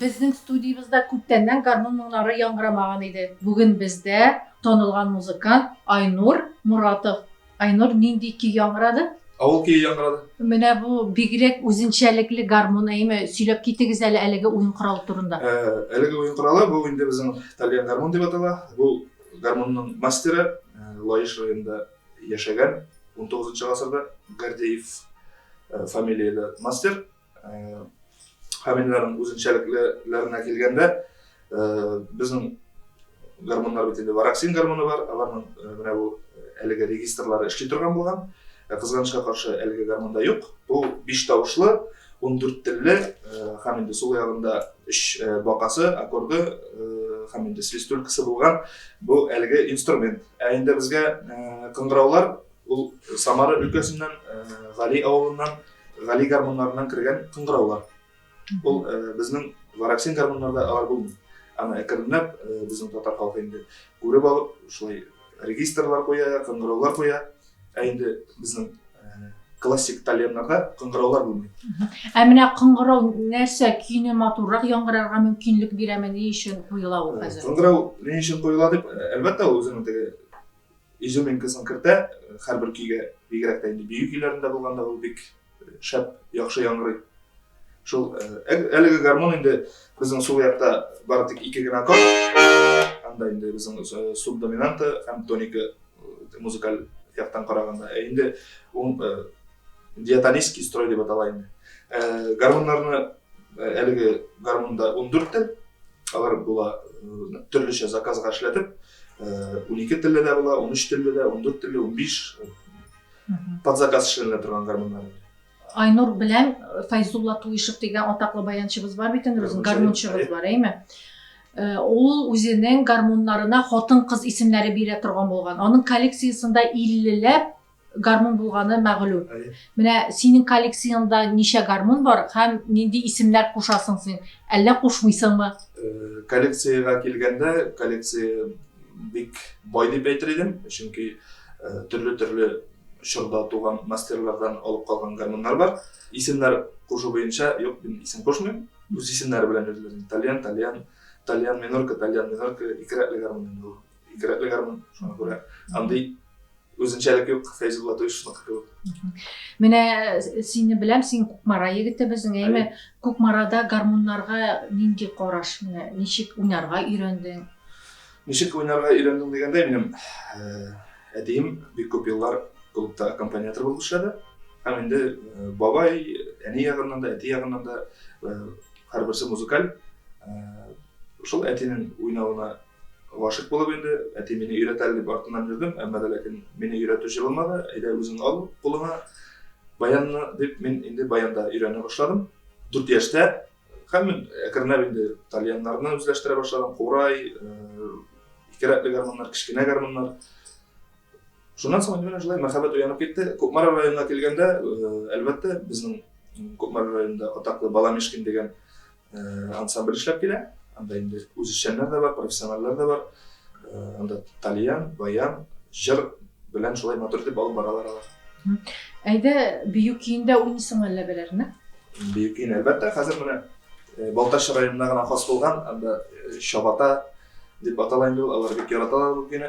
Безнең студиябездә күптәннән гармун моңнары яңгырамаган иде. Бүген бездә танылган музыкант Айнур Моратов. Айнур, нинди көй яңгырады? Авыл көе яңгырады. Менә бу бигрәк үзенчәлекле гармун, әйеме? Сөйләп китегез әле әлеге уен коралы турында. Әлеге уен коралы бу инде безнең тальян гармун дип атала. Бу гармунның мастеры Лаеш районында яшәгән, унтугызынчы гасырда Гордеев фамилияле мастер. Камилләрнең үзенчәлекләренә килгәндә, безнең гормоннар бит инде вараксин гормоны бар, аларның менә бу әлеге регистрлары эшли торган булган. Ә кызганычка каршы, әлеге гормонда юк. Бу биш тавышлы, ундүрт телле һәм инде сул ягында өч бакасы, аккорды һәм инде свистулькасы булган бу әлеге инструмент. Ә инде безгә кыңгыраулар Ул Самара өлкәсеннән, Гали авылыннан, Гали гармуннарыннан кергән кыңгыраулар. Ул безнең Вараксин гармуннарда алар булмый. Аны әкренләп безнең татар халкы инде күреп алып, шулай регистрлар куя, кыңгыраулар куя. Ә инде безнең классик тальяннарда кыңгыраулар булмый. Ә менә кыңгырау нәрсә көйне матуррак яңгырарга мөмкинлек бирәме, ни өчен куела ул хәзер? Кыңгырау ни өчен куела дип, әлбәттә, ул үзенең теге Изюминкасын кертә һәрбер көйгә, бигрәк тә инде бию көйләрендә булганда ул бик шәп, яхшы яңгырый. Шул әлеге гармон инде безнең сул якта бары тик ике генә аккорд. Анда инде безнең субдоминанта һәм тоника музыкаль яктан караганда. Ә инде ул диатонический строй дип атала инде. Гармоннарны Әлеге гармунда ундүрт тел, алар була төрлечә заказга эшләтеп, унике телле дә була, унөч телле дә, ундүрт телле, унбиш под заказ эшләнелә торган гармуннар. Айнур белән Файзулла Туишев дигән атаклы баянчыбыз бар бит инде, гармунчыбыз бар, әйме? Ул үзенең гармуннарына хатын-кыз исемнәре бирә торган булган. Аның коллекциясендә 50 ләп Гармун булганы мәгълүм. Менә синең коллекцияңдә ничә гармун бар һәм нинди исемнәр кушасың син, әллә кушмыйсыңмы? Коллекциягә килгәндә, коллекция бик бай дип әйтер идем, чөнки төрле-төрле чорда туган мастерлардан алып калган гармуннар бар. Исемнәр кушу буенча, юк, мин исем кушмыйм, үз исемнәре белән йөриләр. Тальян, тальян, тальян минорка, тальян минорка, ике рәтле гармун инде ул. Кирәкле гармун, шуңа күрә андый үзенчәлек юк Фәйзүл Латышныкы кебек. Менә э, сине беләм, син Кукмара егете безнең, әйме? Кукмарада гармуннарга нинди караш, менә ничек уйнарга өйрәндең? Ничек уйнарга өйрәндең дигәндә, минем э, әтием бик күп еллар клубта аккомпаниатор булып эшләде. Һәм инде э, бабай, әни ягыннан да, әти ягыннан да һәрберсе музыкаль. Шул әтинең уйнавына Гашыйк булып инде, әти мине өйрәт әле дип артыннан йөрдем, әмма дә ләкин мине өйрәтү җылымады, әйдә үзең ал кулыңа баянны дип, мин инде баянда өйрәнә башладым. Дүрт яшьтә һәм мин әкренләп инде тальяннарны үзләштерә башладым, курай, ике рәтле гармуннар, кечкенә гармуннар. Шуннан соң инде менә шулай мәхәббәт уянып китте. Кукмара районына килгәндә, әлбәттә, безнең Кукмара районында атаклы Бала Мишкин дигән Ансамбль эшләп килә. Анда инде үзешчәннәр дә бар, профессиональләр дә бар. Анда тальян, баян, җыр белән шулай матур итеп алып баралар алар. Әйдә, бию көендә уйныйсыңмы әллә бәләрне? Бию көен, әлбәттә, хәзер менә Балтач районына гына хас булган, анда Чабата дип атала инде ул, алар бик яраталар ул көйне.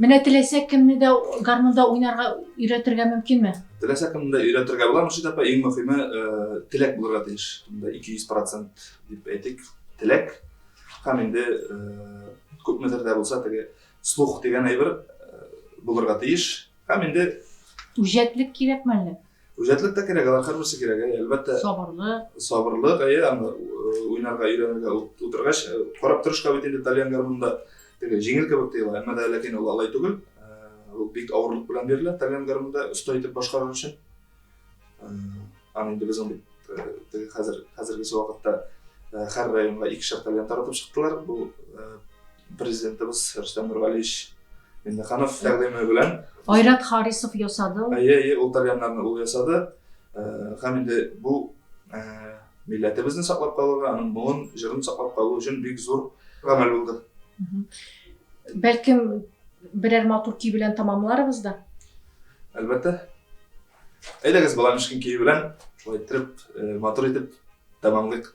Менә теләсә кемне дә гармунда уйнарга өйрәтергә мөмкинме? Теләсә кемне дә өйрәтергә була, Мөршид апа, иң мөхиме теләк булырга тиеш. Монда 200 процент дип әйтик, теләк. Һәм инде күпмедер дә булса теге слух дигән әйбер булырга тиеш. Һәм инде. Үҗәтлек кирәкме әллә? Үҗәтлек тә кирәк, алар һәрберсе кирәк, әйе, әлбәттә. Сабырлык. Сабырлык, әйе, аны уйнарга, өйрәнергә утыргач, карап торышка бит инде тальян гармунда теге җиңел кебек тоела, әмма дә ләкин ул алай түгел. Ул бик авырлык белән бирелә тальян гармунда оста итеп башкарыр өчен. Аны инде без ул бит теге хәзер хәзергечә вакытта һәр районга икешәр тальян таратып чыктылар. Бу президентыбыз Рөстәм Нургалиевич Миннеханов тәкъдиме белән Айрат Харисов ясады. Әйе, әйе, ул тальяннарны ул ясады. Һәм инде бу милләтебезне саклап калырга, аның моңын, җырын саклап калу өчен бик зур гамәл булды. Бәлкем берәр матур көй белән тәмамларбыз да? Әлбәттә. Әйдәгез, бала мешкин көе белән шулай иттереп, э, матур итеп тәмамлыйк.